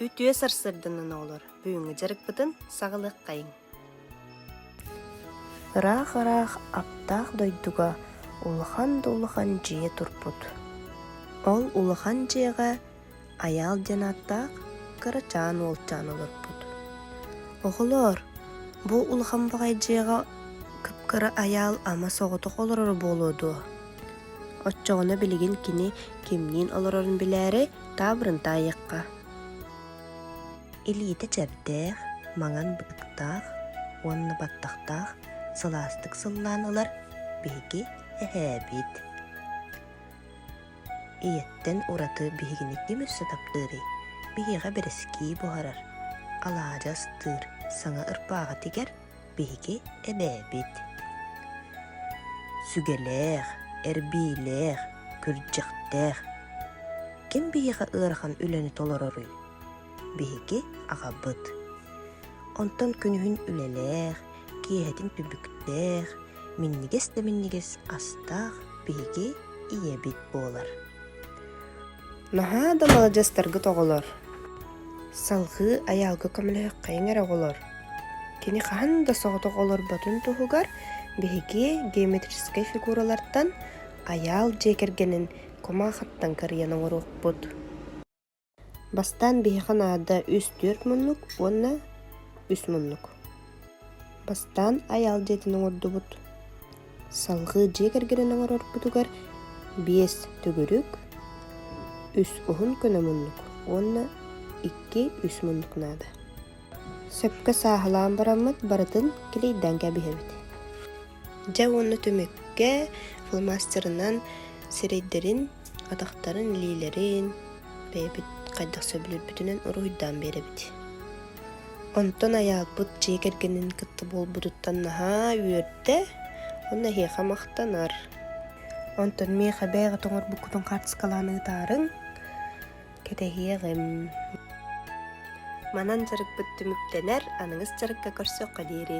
Үтүө сарсыардынын оҕолор, бүгүҥҥү дьарыкпытын саҕалыаххайыҥ. Ыраах-ыраах аптаах дойдуга улахан да улахан дьиэ турбут. Ол улахан дьиэҕэ Айаал диэн ааттаах кырачаан уолчаан олорбут. Оҕолоор, бу улахан баҕайы дьиэҕэ кып-кыра айаал ама соҕотох олороро буолуо дуо? Оччоҕуна билигин кини кимниин олорорун билээри таабырын таайыахха. Илиитэ чэбдээх, маҥан бытыктаах уонна баттахтаах сылаастык сыллаан ылар биһиги эһээбит. ийэттэн ураты биһигини ким өссө таптыырый? Биһиэхэ бэрэскии буһарар, алаадьы астыыр, саҥа ырбааҕы тигэр биһиги эбээбит. Сүгэлээх, эрбиилээх, күрдьэхтээх. Ким биһиэхэ ыарахан үлэни толороруй? Биһиги аҕабыт. Онтон күнүһүн үлэлээх, киэһэтин түбүктээх, минньигэс да минньигэс астаах биһиги ийэбит буолар. Наһаа да маладьастаргыт оҕолор. Салгыы аялга көмөлөһөххөйүҥ эрэ оҕолор. Кини хаһан да соҕотох олорботун туһугар биһиги геометрическай фигуралартан аял дьиэ кэргэнин кумаахыттан кырыйан оҥоруохпут. Бастаан биһиэхэ наада үс түөрт муннук уонна үс муннук. Бастаан Айаал дьиэтин оҥордубут. Салгыы дьиэ кэргэнин оҥорорбутугар биэс төгүрүк, үс уһун көнө муннук уонна икки үс муннук наада. Сөпкө сааһылаан бараммыт, барытын килийдэн кэбиһэбит. Дьэ уонна түмүккэ фломастерынан сирэйдэрин, атахтарын, илиилэрин бэйэбит хайдах сөбүлүүрбүтүнэн уруһуйдаан биэрэбит. Онтон айаалбыт дьиэ кэргэнин кытта буолбутуттан наһаа үөрдэ уонна эһиэхэ махтанар. Онтон миэхэ бэйэҕит оҥорбуккутун хаартыскалаан ыытаарыҥ. Кэтэһиэҕим. Манан дьарыкпыт түмүктэнэр, аныгыс дьарыкка көрсүөххэ диэри.